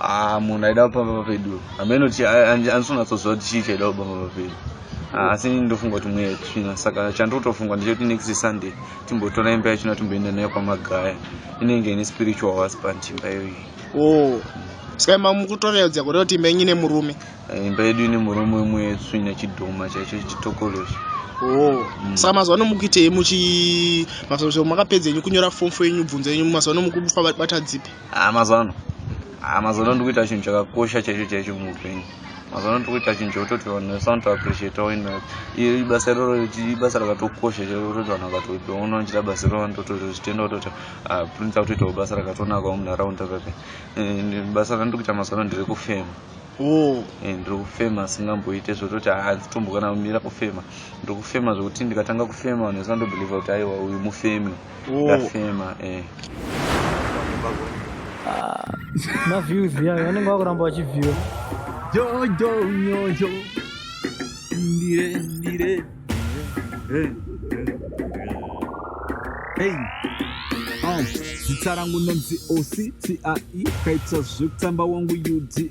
Ah, munhu aida kupamba papedu hameno kuti anisonatsoziva kuti chii chaida kupamba papedu ah, asi ndofunga kuti mweya tsvina saka chandotofungwa ndechekuti next sunday timbotora imba yachina timboenda nayo kwamagaya inenge ine spiritual husband imba iyoyi oh. saka imba mukutoreodzia kureva kuti imba yenyu ine murume eh, imba yedu ine murume wemweya tsvina chidhoma chaicho chitokoloshi Oh. Mm. saka mazuva ano mukuitei muchi mazuva makapedza enyu kunyora fomfo yenyu bvunzo yenyu mazuva ano mukufamba bata dzipi ah, mazuva ano ah, mazuva ano ndikuita chinhu chakakosha chaicho chaicho muupenyu mazuva ano tikuita chinhu chekutoti vanhu vese vanotoappreciata wena iyo ibasa iroro ibasa rakatokosha chekutoti vanhu vakatoona vachita basa iroro vanototozvitenda kutoti ah, prince akutoitawo basa rakatonakawo munharaunda kake eh, basa randiri kuita mazuva ano ndiri kufema oh. eh, ndiri kufema singamboite zvekutoti hanzi ah, tombokana kumira kufema ndiri kufema zvekuti ndikatanga kufema vanhu vese vanotobhilivha kuti aiwa uyu mufemi ndafema eh ah, ma views ya vanenge vakuramba vachiviewa jojo nyojo ndire ndire eh, eh, eh. zita rangu nonzi osi tie kaita zvekutamba wangu udie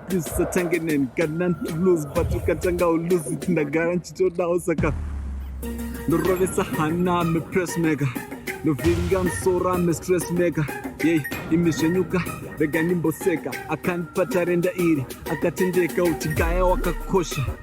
ndisatange neni kana ndilose but ukatanga uluzi ndagara ndichitodawo saka ndorovesa hana mepress maker ndovhiringa musoro amestress maker yei imi zvenyuka rega ndimboseka akandipa tarenda iri akatendeka uchigaya wakakosha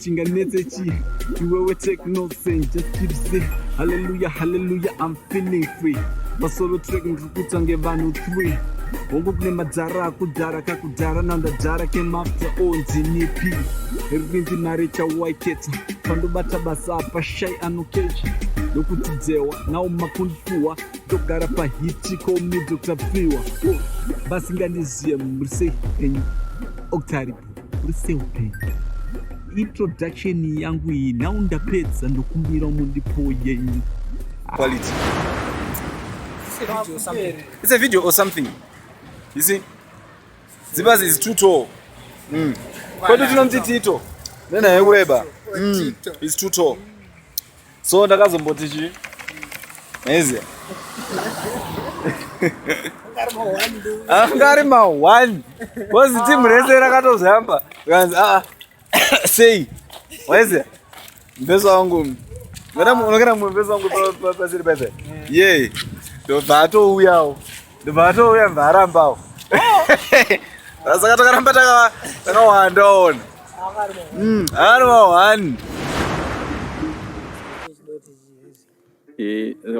chinganetse chii iwewe take no sense just keep say hallelujah hallelujah i'm feeling free masolo track ndiri kutswa ngevanhu three hongu kune madhara akudhara kakudhara nandadhara kemafta onzinipi ripinzi mari chawaiketa pandobata basa apa shai anokecha ndokuti dzewa nawo makundifuwa ndogara pahiti komi dr fiwa basingandiziye murisei enyu octaripo Risehupenyu introduction yangu iyi nhau ndapedza ndokumbira mundipo yenyu quality it's a video or something you see zibazi is too tall mm. kwedu tinonzi tito nenaye kureba mm. is too tall so ndakazomboti chii maiziva anga ari mahwani kozi timu rese rakatozoyamba kanzi aa sei waiziva mbeso wangu unogara mumwe mbeso wangu pasiri paipai yee ndobva atouyawo ndobva atouya mva arambawo saka takaramba takawanda ona ari vahwani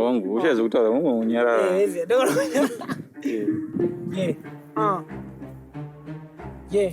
wangu uchazi kutaura mumwe unyarara Yeah.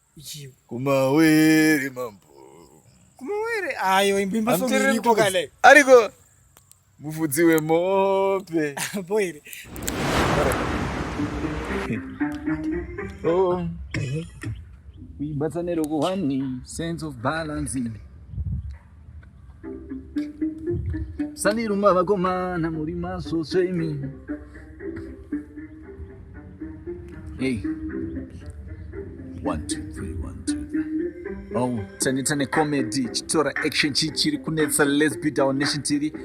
ichiyo kumawere mambo kumawere ayo imbimba soniriko kale ariko mufudzi wemombe boire oh kuibatsanero kuhwani sense of balancing sandiruma vakomana muri masvosve imi hey. one, two, three, one, two. Oh, taneta necomedy chitora action chii chiri kunetsa lesbi down nation tv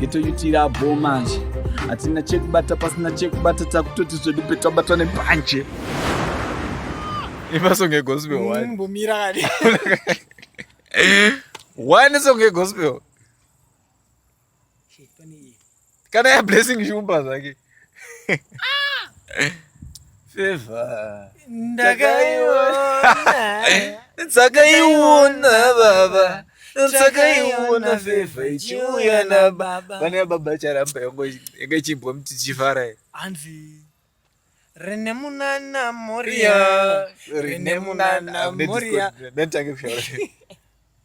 geto yuti iri abhoo manje hatina chekubata pasina chekubata takutoti zvedu petabatwa nepanje imasong egospel wani mbomira kani wani song egospel kana ya blessing shumba zvake Favor. Ndakaiona. Ndakaiona baba. Ndakaiona favor ichiuya na baba. Pane baba charamba yango yanga chimbwa mti chifara. Anzi Rene munana moria. Rene munana moria. Ndantake kushora.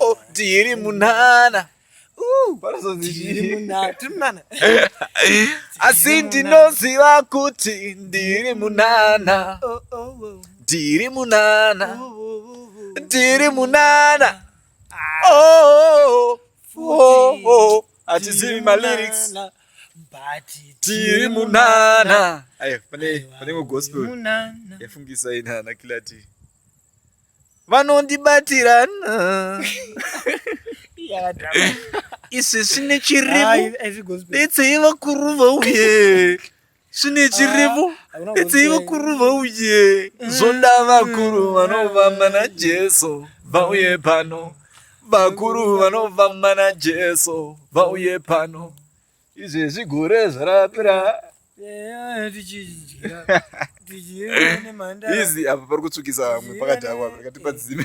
Oh, tiri munana asi ndinoziva kuti ndiri munana oh, oh, oh. ndiri munana ndiri munana hatizivi malyrics tiri munana pane gospel yafungisa inana kilati vanondibatira izvi zvine chirimu detsei vakuru vauye zvine chirimu detsei vakuru vauye zvoda vakuru vanovamba najesu vauye pano vakuru vanovamba najesu vauye pano izvezvi gore zvarapira izi apa pari kutsvukisa vamwe pakadhakwa pakati padzime